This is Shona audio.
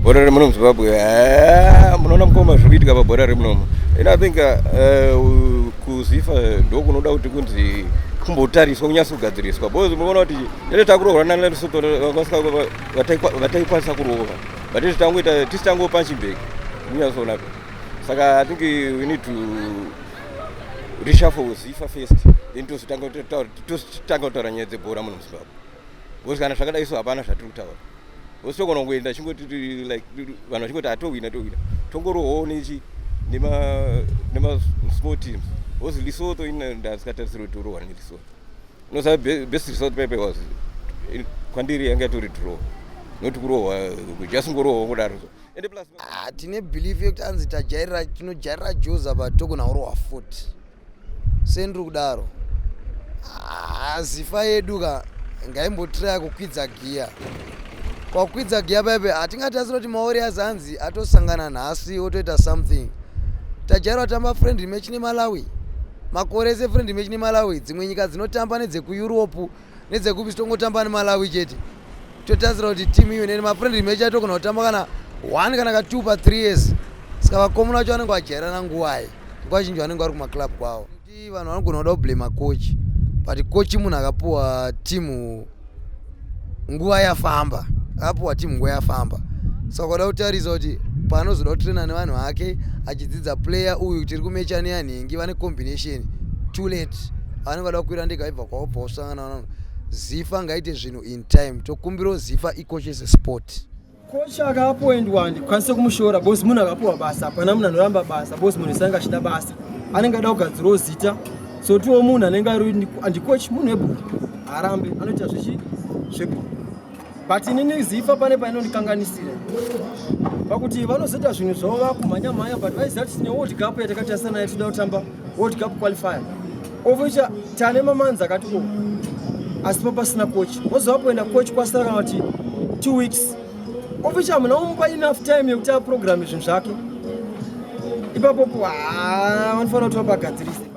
bhora remuno muzimbabwe ah, munoona mukoma zviri kuitika pabhora remunomo and i think uh, uh, kuzifa ndokunoda kuti kunzi kumbotariswa kunyasa kugadziriswa bcause munoona kuti tete takurohwa nalesoto vataikwanisa kurova but tete tangoita tisi tangopa chibheki kunyasoona saka i think we need to reshuffle zifa first then tozotanga tositanga kutaura nyaya dzebhora muno muzimbabwe bcause kana zvakadai so hapana zvatiri kutaura bcause togona kuenda chingoti like vanhu vachingoti atohwina tohwina tongorohoo nechi nemasmall teams bcause lesotho indasikatarisiro kuti urohwa nelesotho unoziva best result pepe was kwandiri yanga yatori draw not kurohwa just ngorohwa kudaro so ende plus ah, tine belief yekuti anzi tajairira tinojairira joza but togona kurohwa futi sendiri kudaro ah, zifa yedu ka ngaimbotiraya kukwidza giya kwakukwidza giya paipe hatingati asi kuti maori azanzi atosangana nhasi otoita something tajairwa tamba friendly match nemalawi makore ese friendly match nemalawi dzimwe nyika dzinotamba nedzekueurope nedzekupi tongotamba nemalawi chete totarisira kuti team iyo nene mafriendly match atogona kutamba kana one kana ka two pa three years saka vakomuna vacho vanenge vajairana nguvai nguva zhinji vanenge vari kumaclub kwavo ti vanhu vanogona kuda kublema coach but coach munhu akapuwa timu nguva yafamba akapuwa timu nguva yafamba saka kuda kutarisa kuti paanozoda kutraina nevanhu vake achidzidza player uyu tiri kumechani yanhingi vane combination too late vanenge vada kukwira ndega ibva wobva wasangana vanhu zifa ngaite zvinhu in time tokumbirawo zifa ikoshese sport kocha akapoendwa handikwanise kumushora bos munhu akapiwa basa hapana munhu anoramba basa bos munhu sanga achida basa anenge ada kugadzirawo zita so tiwo munhu anenge ari andikochi munhu webhuku haarambe anoita zvechi zvebhuku but inini zifa pane painondikanganisira pakuti vanozoita zvinhu zvavo vakumhanya mhanya but vaiziva kuti tine world cup yatakatarisa naye toda kutamba world cup qualifier ovoita tane mamanzi akati ko asi papasina coach vozova kuenda coach kwasara kana kuti two weeks ovoita hamuna umupa enough time yekuti aprograme zvinhu zvake ipapopo vanofanira kuti vapagadzirisa